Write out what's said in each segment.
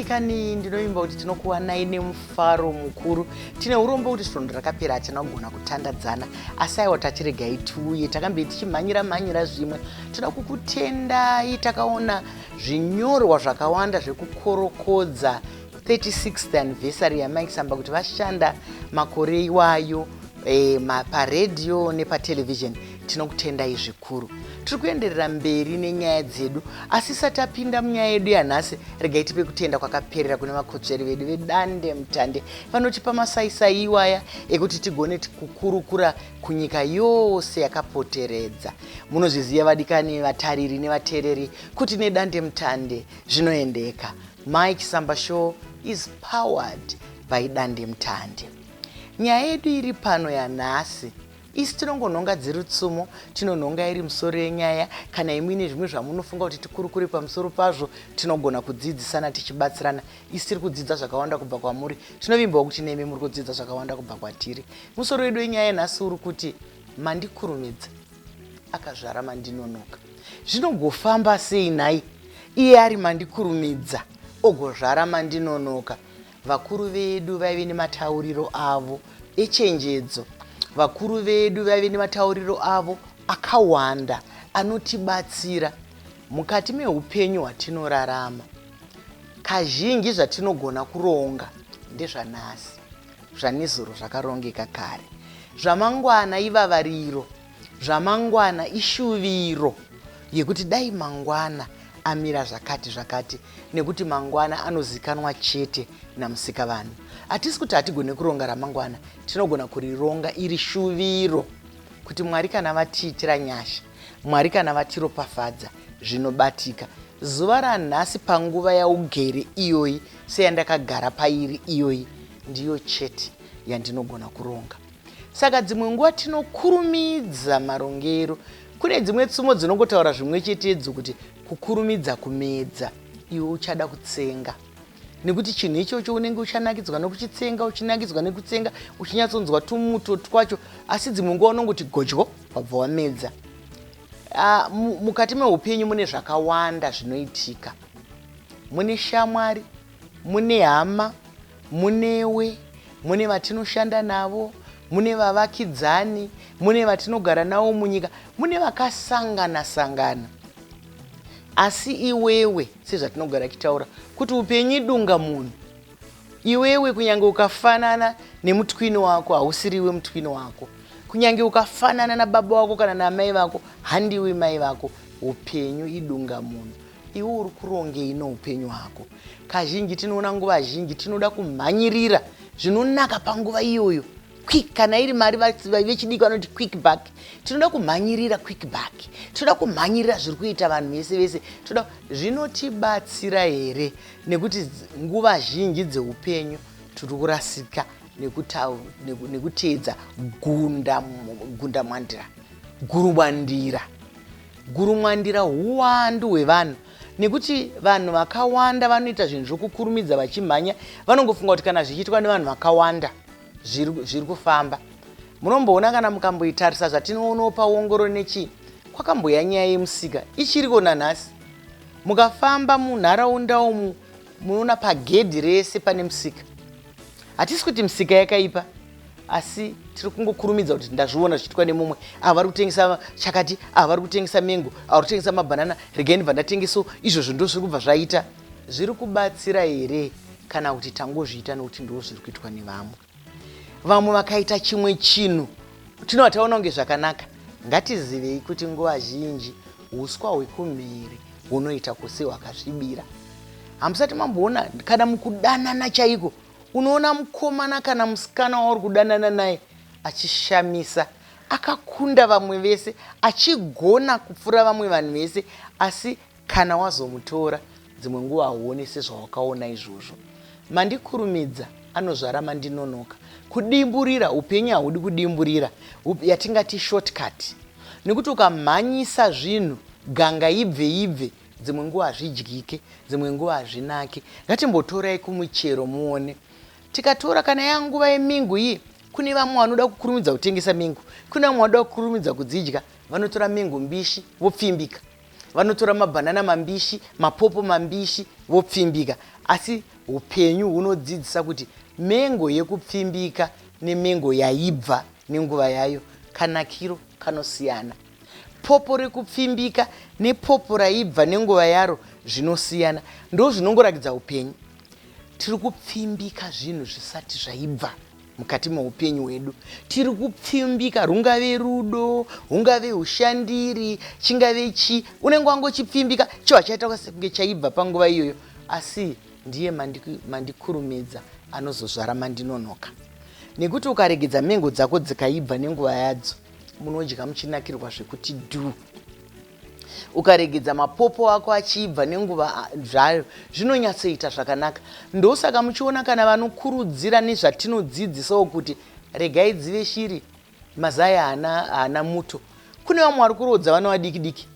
Kani ndinoimba kuti tinokuwanai nemufaro mukuru tine urombo kuti svondo rakapera hatina kugona kutandadzana asi aiwa tachiregai tiuye takambe tichimhanyira mhanyira zvimwe Tinoda kukutendai takaona zvinyorwa zvakawanda zvekukorokodza 36th anniversary yaMike Samba kuti vashanda makore iwayo eh, paredhiyo nepatelevision tinokutendai zvikuru tiri kuenderera mberi nenyaya dzedu asi isati apinda munyaya yedu yanhasi regai tipe kutenda kwakaperera kune vakotsveri vedu vedande mutande vanotipa masaisai iwaya ekuti tigone kukurukura kunyika yose yakapoteredza. Munozviziva vadikani vatariri nevateereri kuti nedandemutande zvinoendeka. Mike Samba Show is powered by dandemutande. Nyaya yedu iri pano yanhasi isi tinongonhonga dziri tsumo tinonhonga iri musoro yenyaya kana imwine zvimwe zvamunofunga kuti tikurukure pamusoro pazvo tinogona kudzidzisana tichibatsirana isu tiri kudzidza zvakawanda kubva kwamuri tinovimbawo kuti nemi muri kudzidza zvakawanda kubva kwatiri musoro wedu wenyaya yenhasi uri kuti mandikurumidza akazvara mandinonoka zvinogofamba sei nhai iye ari mandikurumidza ogozvara mandinonoka vakuru vedu vaive nematauriro avo echenjedzo vakuru vedu vaive nematauriro avo akawanda anotibatsira mukati meupenyu hwatinorarama Kazhinji zvatinogona kuronga ndezvanhasi, zvanezuro zvakarongeka kare. Zvamangwana ivavariro, zvamangwana ishuviro yekuti dai mangwana amira zvakati zvakati nekuti mangwana anozikanwa chete naMusikavanhu. Hatisi kuti hatigone kuronga ramangwana, tinogona kurironga iri shuviro kuti Mwari kana vatiitira nyasha Mwari kana vatiropafadza zvinobatika. Zuva ranhasi panguva yaugere iyoyi seyandakagara pairi iyoyi ndiyo chete yandinogona kuronga. Saka dzimwe nguva tinokurumidza marongero. Kune dzimwe tsumo dzinongotaura zvimwe chetedzo kuti kukurumidza kumedza iwe uchada kutsenga. nekuti chinhu ichocho unenge uchanakidzwa nokuchitsenga uchinakidzwa nekutsenga uchinyatsonzwa tumuto twacho asi dzimwe nguva unongoti godyo wabva wamedza uh, mukati meupenyu mune zvakawanda zvinoitika mune shamwari mune hama munewe mune vatinoshanda navo mune vavakidzani mune vatinogara navo munyika mune vakasangana sangana asi iwewe sezvatinogara tichitaura kuti upenyu idunga munhu iwewe kunyange ukafanana nemutwini wako hausiriwe mutwini wako kunyange ukafanana nababa wako kana namai vako handiwi mai vako upenyu idunga munhu iwe uri kurongei noupenyu hwako kazhinji tinoona nguva zhinji tinoda kumhanyirira zvinonaka panguva iyoyo quick kana iri mari vechidiki vanoti quick back tinoda kumhanyirira quick back tinoda kumhanyirira zviri kuita vanhu vese vese tinoda zvinotibatsira here nekuti nguva zhinji dzeupenyu tiri kurasika nekuteedza gundamwandira gurumwandira gurumwandira huwandu hwevanhu nekuti vanhu vakawanda vanoita zvinhu zvokukurumidza vachimhanya vanongofunga kuti kana zvichiitwa nevanhu vakawanda zviri kufamba munomboona kana mukamboitarisa zvatinoonawo paongoro nechii kwakamboya nyaya yemusika ichiriko nanhasi mukafamba munharaunda umu munoona pagedhi rese pane musika hatisi kuti misika yakaipa asi tiri kungokurumidza kuti ndazviona zvichiitwa nemumwe ava vari kutengesa chakati ava vari kutengesa mengo ava vari kutengesa mabhanana regai ndibva ndatengeso izvozvo ndo zviri kubva zvaita Zviri kubatsira here kana kuti tangozviita nokuti ndizvo zviri kuitwa nevamwe? Vamwe vakaita chimwe chinhu tinobva taona kunge zvakanaka. Ngatizivei kuti nguva zhinji uswa hwekumhiri hunoita kusi hwakasvibira. Hamusati mamboona kana mukudanana chaiko unoona mukomana kana musikana wauri kudanana naye achishamisa akakunda vamwe vese achigona kupfuura vamwe vanhu vese asi Kana wazomutora dzimwe nguva hauone sezvawakaona izvozvo. Mandikurumidza anozvara mandinonoka. Kudimburira, upenyu haudi kudimburira yatingati short cut nekuti ukamhanyisa zvinhu ganga ibve ibve dzimwe nguva hazvidyike dzimwe nguva hazvinake. Ngatimbotorai kumuchero muone. Tikatora kana yava nguva yemingu iyi kune vamwe vanoda kukurumidza kutengesa mingu kune vamwe vanoda kukurumidza kudzidya vanotora mingu mbishi vopfimbika. vanotora mabhanana mambishi mapopo mambishi vopfimbika asi upenyu hunodzidzisa kuti mengo yekupfimbika nemengo yaibva nenguva yayo kanakiro kanosiyana popo rekupfimbika nepopo raibva nenguva yaro zvinosiyana ndo zvinongorakidza upenyu tiri kupfimbika zvinhu zvisati zvaibva mukati meupenyu hwedu tiri kupfimbika rungave rudo hungave ushandiri chingave chi unenge wangochipfimbika cho hachaita sekunge chaibva panguva iyoyo asi ndiye mandikurumidza anozozvara mandinonoka nekuti ukaregedza mengo dzako dzikaibva nenguva yadzo munodya muchinakirwa zvekuti dhu ukaregedza mapopo ako achiibva nenguva zvayo zvinonyatsoita zvakanaka ndosaka muchiona kana vanokurudzira nezvatinodzidzisawo kuti regai dzive shiri mazai haana muto kune vamwe vari kuroodza vana vadiki diki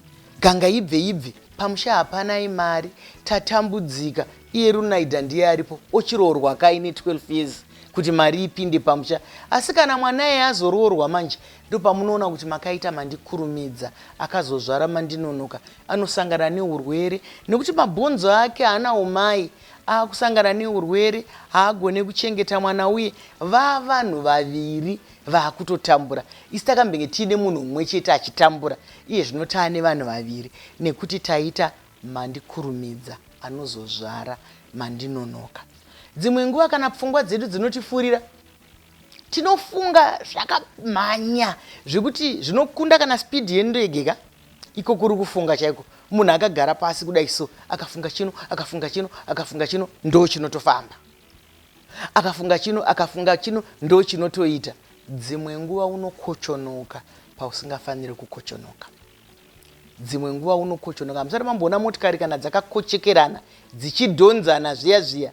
ganga ibve ibve pamusha hapana imari tatambudzika iye runaida ndiye aripo ochiroorwa kaine 12 years kuti mari ipinde pamusha asi kana mwana eye azoroorwa manje Ndopamunoona kuti makaita mandikurumidza akazozvara mandinonoka anosangana neurwere nekuti mabhonzo ake haana umai akusangana neurwere haagone kuchengeta mwana uye vavanhu vaviri vakutotambura isi takambenge tiine munhu mumwe chete achitambura iye zvino taane vanhu vaviri nekuti taita mandikurumidza anozozvara mandinonoka dzimwe nguva kana pfungwa dzedu dzinotifurira tinofunga zvakamhanya zvekuti zvinokunda kana speed yendege ka iko kuri kufunga chaiko munhu akagara pasi kudai so akafunga chino akafunga chino akafunga chino ndo chinotofamba akafunga chino akafunga chino ndo chinotoita dzimwe nguva unokochonoka pausingafaniri kukochonoka dzimwe nguva unokochonoka musati mamboona motikari kana dzakakochekerana dzichidhonzana zviya zviya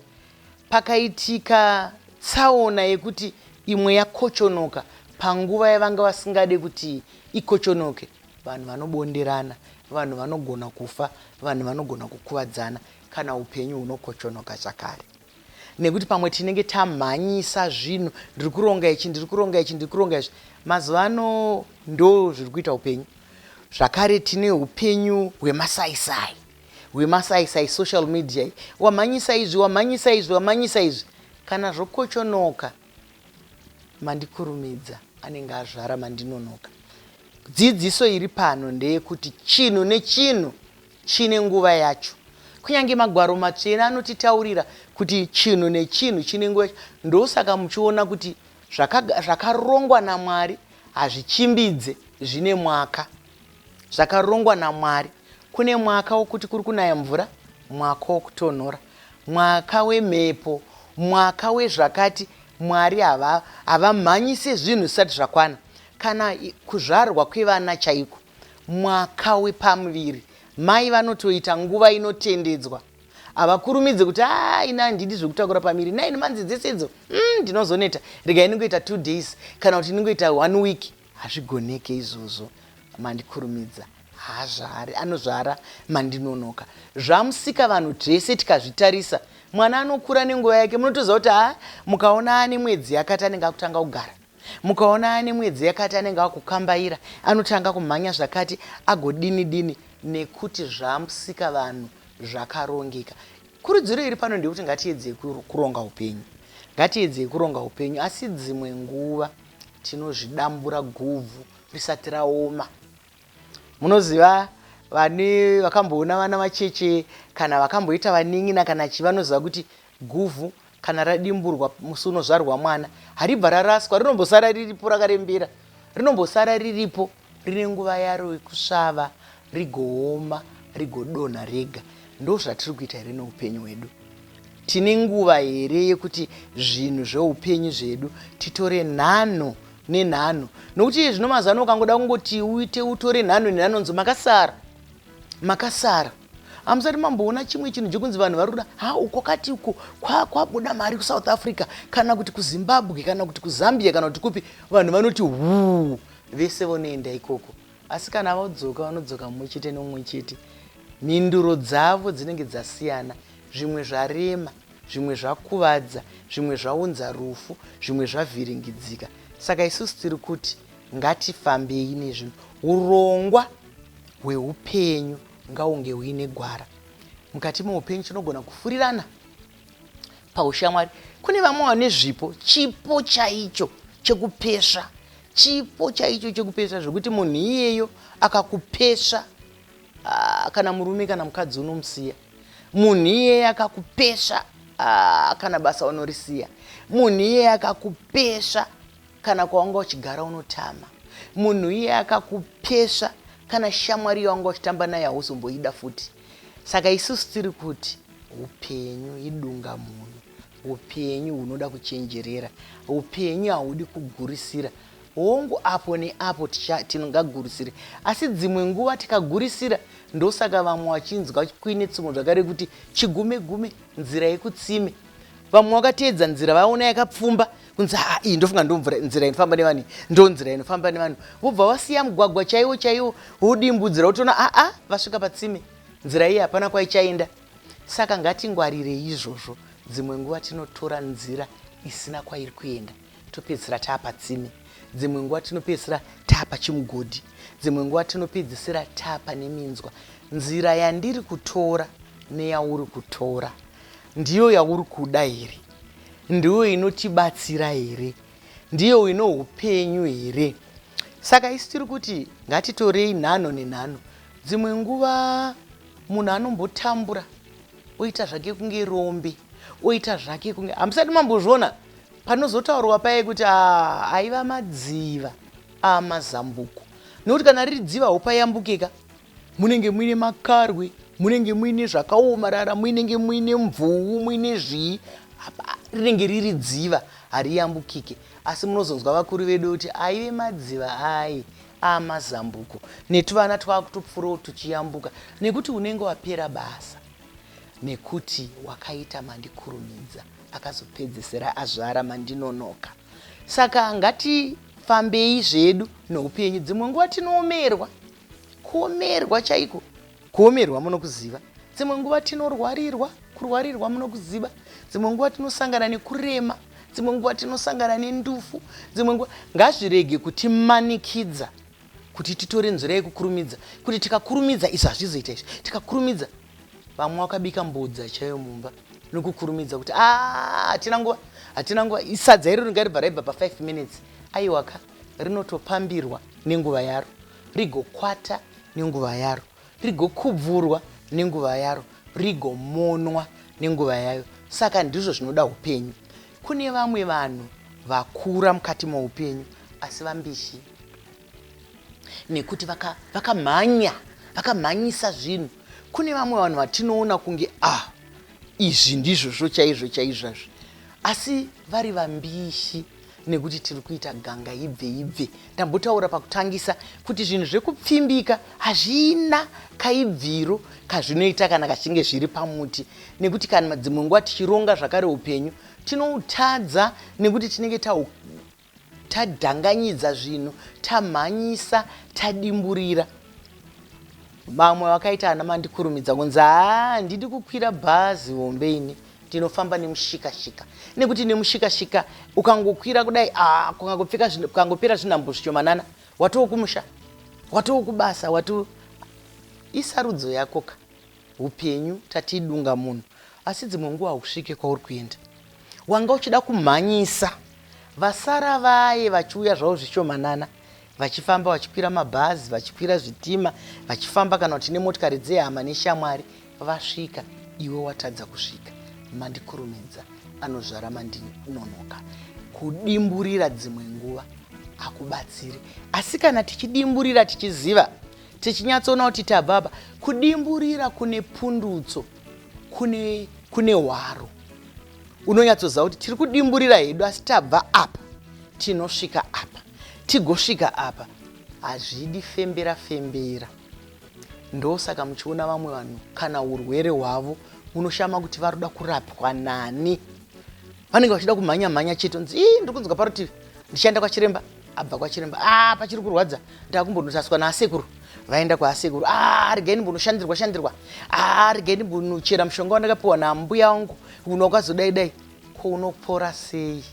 pakaitika tsaona yekuti imwe yakochonoka panguva yavanga vasingade kuti ikochonoke vanhu vanobonderana, vanhu vanogona kufa, vanhu vanogona kukuvadzana kana upenyu hunokochonoka zvakare nekuti pamwe tinenge tamhanyisa zvinhu ndiri kuronga ichi ndiri kuronga ichi ndiri kuronga izvi mazuva ano ndo zviri kuita upenyu zvakare tine upenyu hwemasaisai hwemasaisai social media iyi wamhanyisa izvi wamhanyisa izvi wamhanyisa izvi kana zvokochonoka mandikurumidza anenge azvara mandinonoka dzidziso iri pano ndeyekuti chinhu nechinhu chine nguva yacho kunyange magwaro matsvene anotitaurira kuti chinhu nechinhu chine nguva yacho ndosaka muchiona kuti zvakarongwa namwari hazvichimbidze zvine mwaka Zvakarongwa naMwari. Kune mwaka wokuti kuri kunaya mvura, mwaka wokutonhora, mwaka wemhepo, mwaka wezvakati. Mwari hava, havamhanyise zvinhu zvisati zvakwana. Kana kuzvarwa kwevana chaiko, mwaka wepamuviri, mai vanotoita nguva inotendedzwa. Havakurumidze kuti, aa, ini handidi zvekutakura pamiri. Nine months dzese idzo, umm, ndinozoneta. Regai ndingoita two days, kana kuti ndingoita one week. Hazvigoneke izvozvo Mandikurumidza haazvari anozvara Mandinonoka zvamusika vanhu tese tikazvitarisa mwana anokura nenguva yake munotoziva kuti haa mukaona ane mwedzi yakati anenge akutanga kugara mukaona ane mwedzi yakati anenge akukambaira anotanga kumhanya zvakati agodini dini nekuti zvamusika vanhu zvakarongeka kurudziro iri pano ndeyekuti ngatiedzei kuronga upenyu ngatiedzei kuronga upenyu asi dzimwe nguva tinozvidambura guvhu risati raoma munoziva vane vakamboona vana vacheche kana vakamboita vanin'ina kana chi vanoziva kuti guvhu kana radimburwa musi unozvarwa mwana haribva raraswa rinombosara riripo rakarembera rinombosara riripo Rine nguva yaro yekusvava, rigooma, rigodonha rega. Ndozvatiri kuita here noupenyu hwedu? Tine nguva here yekuti zvinhu zveupenyu zvedu titore nhanho nenhanho? Nokuti iye zvino mazano ukangoda kungoti uite utore nhanho nenhanho nzi makasara, makasara hamusati mamboona chimwe chinhu chekunzi vanhu vari kuda ha uko kati uko kwabuda kwa mari kusouth africa kana kuti kuzimbabwe kana kuti kuzambia kana kuti kupi vanhu vanoti huu Vese vonoenda ikoko asi kana vodzoka vanodzoka mumwe chete nomumwe chete. Mhinduro dzavo dzinenge dzasiyana, zvimwe zvarema, zvimwe zvakuvadza, zvimwe zvaunza rufu, zvimwe zvavhiringidzika. Saka isusu tiri kuti ngatifambei nezvinhu. Urongwa hweupenyu ngaunge huine gwara. Mukati meupenyu tinogona kufurirana. paushamwari kune vamwe vane zvipo chipo chaicho chekupesva chipo chaicho chekupesva zvekuti munhu iyeyo akakupesva ah, kana murume kana mukadzi unomusiya munhu iyeye akakupesva ah, kana basa unorisiya munhu iyeye akakupesva kana kwawanga uchigara unotama munhu iye akakupesva kana shamwari yawanga uchitamba naye hauzomboida futi Saka isusu tiri kuti upenyu idunga munhu, upenyu hunoda kuchenjerera, upenyu haudi kugurisira. Hongu, apo neapo tingagurisire, asi dzimwe nguva tikagurisira ndosaka vamwe vachinzwa kuine tsumo zvakare kuti chigume gume nzira yekutsime. Vamwe vakateedza nzira vaona yakapfumba, kunzi haa iyi ndofunga ndomvnzira inofamba nevani ndonzira inofamba nevanhu vobva vasiya mugwagwa chaiwo chaiwo wodimbudzira wotoona aa vasvika patsime nzira iyi hapana kwaichaenda saka ngatingwarirei izvozvo dzimwe nguva tinotora nzira isina kwairi kuenda topedzisira taapatsime dzimwe nguva tinopedzisira taapa chimugodhi dzimwe nguva tinopedzisira taapa neminzwa nzira yandiri kutora neyauri kutora ndiyo yauri kuda here Ndiyo inotibatsira here? Ndiyo ino upenyu here? Saka isu tiri kuti ngatitorei nhanho nenhanho. Dzimwe nguva munhu anombotambura oita zvake kunge rombe, oita zvake kunge hamusati mambozviona panozotaurwa paye kuti ah, aiva madziva amazambuko, nekuti kana riri dziva haupayambukeka. munenge muine makarwe munenge muine zvakaomarara muinenge muine mvuu muine zvii rinenge riri dziva hariyambukike asi munozonzwa vakuru vedu kuti aive madziva ayi amazambuko netuvana twakutopfurawo tuchiyambuka nekuti unenge wapera basa nekuti wakaita mandikurumidza akazopedzesera azvara mandinonoka saka ngatifambei zvedu noupenyu dzimwe nguva tinoomerwa Kuomerwa chaiko. Kuomerwa munokuziva. Dzimwe nguva tinorwarirwa, kurwarirwa munokuziva. Dzimwe nguva tinosangana nekurema, dzimwe nguva tinosangana nendufu, dzimwe nguva ngazvirege kutimanikidza kuti titore nzira yekukurumidza kuti tikakurumidza izvi hazvizoita izvi tikakurumidza vamwe wakabika mbodza chaiyo mumba nokukurumidza kuti ah, hatina nguva hatina nguva isadza iro ringaribva raibva pa5 minutes aiwaka rinotopambirwa nenguva yaro, rigokwata nenguva yaro, rigokubvurwa nenguva yaro, rigomonwa nenguva yayo. Saka ndizvo zvinoda upenyu. Kune vamwe vanhu vakura mukati moupenyu asi vambishi nekuti vakamhanya vaka vakamhanyisa zvinhu kune vamwe vanhu vatinoona kunge ah izvi ndizvozvo chaizvo chaizvazvi asi vari vambishi nekuti tiri kuita ganga ibve ibve ndambotaura pakutangisa kuti zvinhu zvekupfimbika hazvina kaibviro kazvinoita kana kachinge zviri pamuti nekuti kana dzimwe nguva tichironga zvakare upenyu tinoutadza nekuti tinenge tadhanganyidza zvinhu tamhanyisa tadimburira vamwe vakaita ana mandikurumidza kunzi haa ndidi kukwira bhazi hombe ini ndinofamba nemushikashika nekuti nemushikashika ukangokwira kudai ah, kukangopfeka kukangopera zvinhambo zvishomanana watoo kumusha watoo kubasa watu isarudzo yako ka upenyu tatidunga munhu asi dzimwe nguva hausvike kwauri kuenda wanga uchida kumhanyisa vasara vaye vachiuya zvavo zvishomanana vachifamba vachikwira mabhazi vachikwira zvitima vachifamba kana kuti nemotikari dzehama neshamwari vasvika iwe watadza kusvika mandikurumidza anozvara mandinonoka kudimburira dzimwe nguva hakubatsiri asi kana tichidimburira tichiziva tichinyatsoona kuti tababa kudimburira kune pundutso kune kune hwaro unonyatsoziva kuti tiri kudimburira hedu asi tabva apa tinosvika apa Tigosvika apa hazvidi fembera fembera ndosaka muchiona vamwe vanhu kana urwere hwavo munoshama kuti vari kuda kurapwa nani vanenge vachida kumhanya mhanya chete nzi ii ndiri kunzwa parutivi ndichaenda kwachiremba abva kwachiremba a ah, pachiri kurwadza ndakumbonotaswa naasekuru vaenda kwaasekuru a ah, regai ndimbonoshandirwa shandirwa a ah, regai ndimbonochera mushonga wandakapiwa nambuya wangu uno wakazodaidai ko unopora sei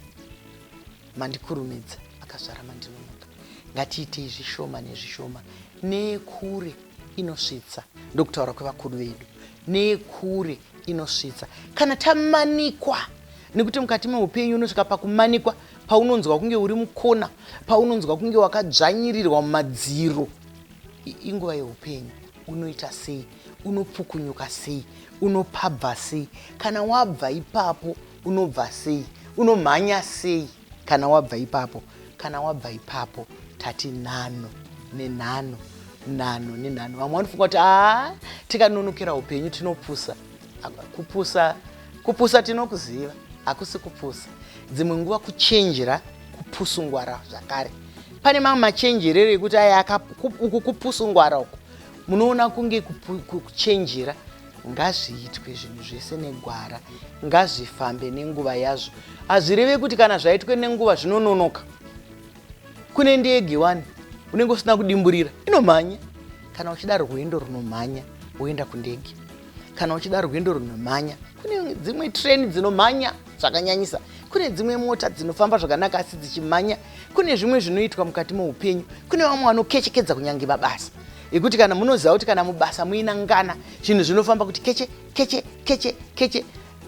Mandikurumidza akazvara mandinonoka. Ngatiitei zvishoma nezvishoma nekure inosvitsa ndokutaura kwevakuru vedu nekure inosvitsa kana tamanikwa nekuti mukati meupenyu unosvika pakumanikwa paunonzwa kunge uri mukona paunonzwa kunge wakadzvanyirirwa mumadziro inguva yeupenyu unoita sei unopfukunyuka sei unopabva sei kana wabva ipapo unobva sei unomhanya sei kana wabva ipapo kana wabva ipapo tati nhano nenhano nhano nenhano vamwe vanofunga kuti aa tikanonokera upenyu tinopusa kupusa kupusa tinokuziva hakusi kupusa dzimwe nguva kuchenjera kupusungwara zvakare pane mamwe machenjerero ekuti aya uku kupusungwara uku munoona kunge kuchenjera ngazviitwe zvinhu zvese negwara ngazvifambe nenguva yazvo hazvireve kuti kana zvaitwe nenguva zvinononoka kune ndege wani unenge usina kudimburira inomhanya kana uchida rwendo runomhanya woenda kundege kana uchida rwendo runomhanya kune dzimwe treni dzinomhanya zvakanyanyisa kune dzimwe mota dzinofamba zvakanaka asi dzichimhanya kune zvimwe zvinoitwa mukati meupenyu kune vamwe vanokechekedza kunyange vabasa yekuti kana munoziva kuti kana mubasa muina ngana zvinhu zvinofamba kuti keche keche keche keche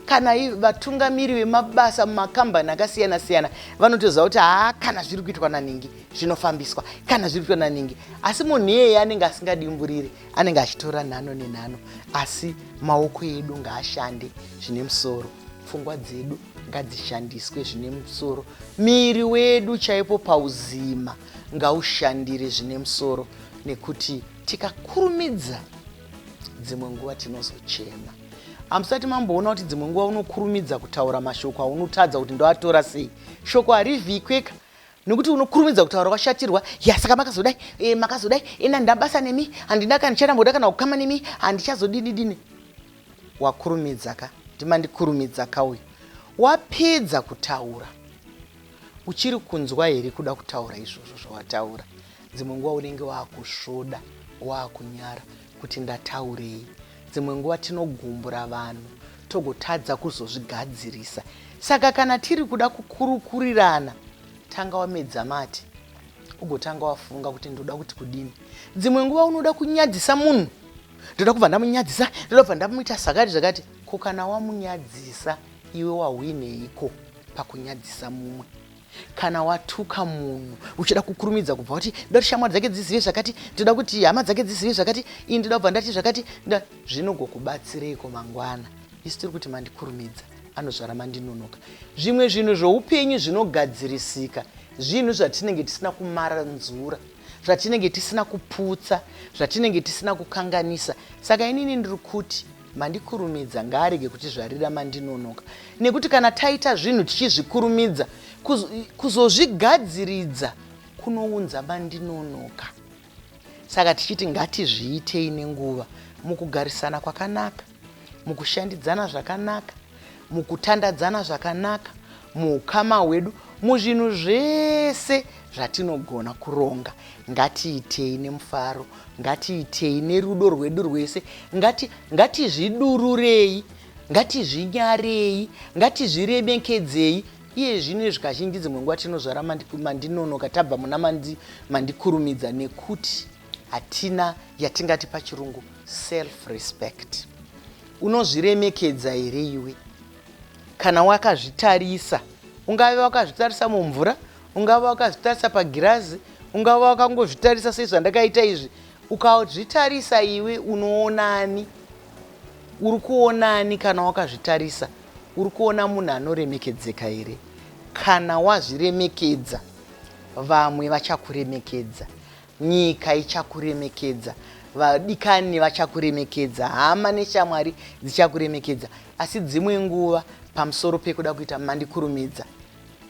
kana vatungamiri vemabasa mumakambani akasiyana siyana vanotoziva kuti haa kana zviri kuitwa naningi zvinofambiswa kana zviri kuitwa naningi asi munhu iyeye anenge asingadimburiri anenge achitora nhano nenhano asi maoko edu ngaashande zvine musoro pfungwa dzedu ngadzishandiswe zvine musoro miiri wedu chaipo pauzima ngaushandire zvine musoro nekuti tikakurumidza dzimwe nguva tinozochema hamusati mamboona kuti dzimwe nguva unokurumidza kutaura mashoko aunotadza kuti ndoatora sei shoko harivhikweka nekuti unokurumidza kutaura washatirwa yasaka makazodai e, makazodai ena handina basa nemi handina kana ndicharambodai kana kukama nemi handichazodini dini wakurumidza ka ndimandikurumidza ka uyu wapedza kutaura Uchiri kunzwa here kuda kutaura izvozvo zvawataura? Dzimwe nguva unenge waakusvoda, waakunyara kuti ndataurei. Dzimwe nguva tinogumbura vanhu togotadza kuzozvigadzirisa. Saka kana tiri kuda kukurukurirana, tanga wamedza mate ugotanga wafunga kuti ndoda kuti kudini. Dzimwe nguva unoda kunyadzisa munhu, ndoda kubva ndamunyadzisa, ndoda kubva ndamuita zvakati zvakati, ko kana wamunyadzisa Iwe wahwineiko pakunyadzisa mumwe? Kana watuka munhu uchida kukurumidza kubva wati ndoda kuti shamwari dzake dzizive zvakati, ndoda kuti hama dzake dzizive zvakati, ini ndoda kubva ndati zvakati, nda zvinogokubatsireiko mangwana? Isu tiri kuti mandikurumidza, anozvara mandinonoka. Zvimwe zvinhu zvoupenyu zvinogadzirisika, zvinhu zvatinenge tisina kumaranzura zvatinenge tisina kuputsa zvatinenge tisina kukanganisa saka inini ndiri kuti Mandikurumidza ngaarege kutizvarira mandinonoka nekuti kana taita zvinhu tichizvikurumidza kuz, kuzozvigadziridza kunounza mandinonoka. Saka tichiti ngatizviitei nenguva mukugarisana kwakanaka, mukushandidzana zvakanaka, mukutandadzana zvakanaka, muukama hwedu, muzvinhu zvese zvatinogona kuronga. Ngatiitei nemufaro, ngatiitei nerudo rwedu rwese, ngati, ngatizvidururei, ngatizvinyarei, ngatizviremekedzei. Iye zvino izvi kazhinji dzimwe nguva tinozvara mandinonoka tabva muna mandi, mandikurumidza nekuti hatina yatingati pachirungu self respect Unozviremekedza here iwe? Kana wakazvitarisa, ungave wakazvitarisa mumvura, ungava wakazvitarisa pagirazi, ungava wakangozvitarisa sezvandakaita izvi. Ukazvitarisa iwe unoonani? Uri kuonani kana wakazvitarisa? Uri kuona munhu anoremekedzeka here? Kana wazviremekedza, vamwe vachakuremekedza. Nyika ichakuremekedza, vadikani vachakuremekedza, hama neshamwari dzichakuremekedza. Asi dzimwe nguva pamusoro pekuda kuita mandikurumidza,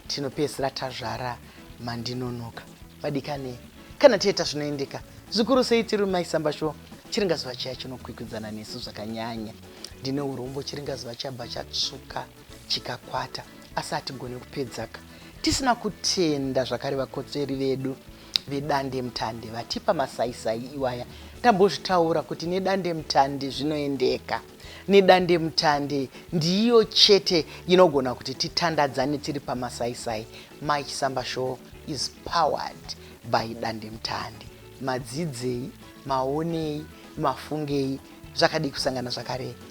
tinopedzisira tazvara mandinonoka. Vadikani, kana tieta zvinoendeka, zvikuru sei tiri mumaisamba sho, chiringazuva chiya chinokwikwidzana nesu zvakanyanya. Ndine urombo, chiringazuva chabva chatsvuka chikakwata, asi hatigone kupedzaka tisina kutenda zvakare vakotsveri vedu. vedandemutande vatipa masaisai iwaya tambozvitaura kuti nedandemutande zvinoendeka nedandemutande ndiyo chete inogona kuti titandadzane tiri pamasaisai mai chisamba show is powered by dandemutande madzidzei maonei mafungei zvakadii kusangana zvakare